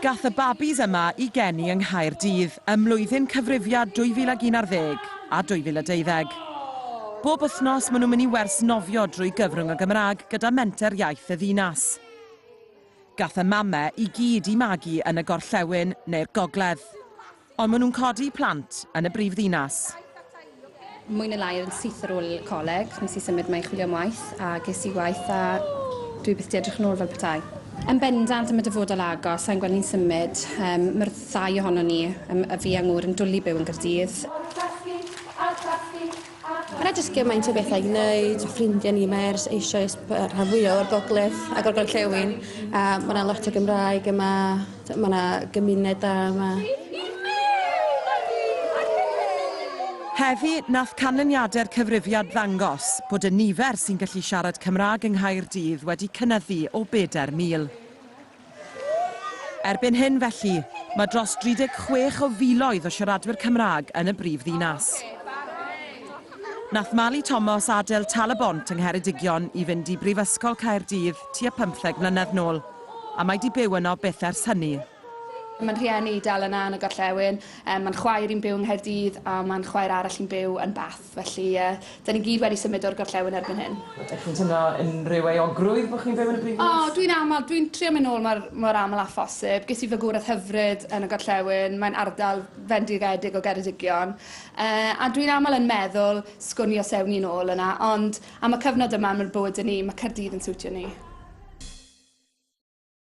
Gath y babis yma i geni yng Nghaerdydd ym mlwyddyn cyfrifiad 2011 a 2012. Bob wythnos maen nhw'n mynd i wers nofio drwy gyfrwng y Gymraeg gyda Menter Iaith y Ddinas. Gath y mame i gyd i magu yn y gorllewin neu'r gogledd. Ond maen nhw'n codi plant yn y brif ddinas. Mwy neu lai yn syth ar ôl coleg, nes i symud 'ma i chwilio am waith, a ges i waith a dwi byth 'di edrych yn ôl fel petai. Yn bendant, am y dyfodol agos, sai'n gweld ni'n symud. Yym, ma'r ddau ohonon ni, yym, y fi a Ngŵr, yn dwli byw yn Gaerdydd. Alw tacsi! Alw tacsi! Yna jyst gymaint o bethau i wneud, ffrindiau ni, mae ers eisoes y rhan fwyaf o'r gogledd ac o'r gorllewin, a mae yna lot o Gymraeg yma, mae yna gymuned da yma. Heddi, nath canlyniadau'r cyfrifiad ddangos bod y nifer sy'n gallu siarad Cymraeg yng Nghaerdydd wedi cynyddu o bedair mil. Erbyn hyn, felly, mae dros 36 o filoedd o siaradwyr Cymraeg yn y brif ddinas. Nath Mali Tomos adael Tal-y-bont yng Ngheredigion i fynd i Brifysgol Caerdydd tua pymtheg mlynedd nôl, a mae 'di byw yno byth ers hynny. Mae 'n rhieni i dal yna yn y gorllewin. Mae 'n chwaer i'n byw yng Nghaerdydd a mae 'n chwaer arall i'n byw yn Bath. Felly, ie, dan ni gyd wedi symud o'r gorllewin erbyn hyn. Ydych chi'n teimlo unrhyw euogrwydd bod chi'n byw yn y brifddinas? O, dwi'n aml, dwi'n trio mynd nôl mor, mor aml â phosib. Ges i fagwraeth hyfryd yn y gorllewin, mae'n ardal fendigedig o Geredigion. Yy, a dwi'n aml yn meddwl, sgwn i os ewn ni'n ôl yna, ond am y cyfnod yma, am y bywyd 'da ni, mae Caerdydd yn siwtio ni.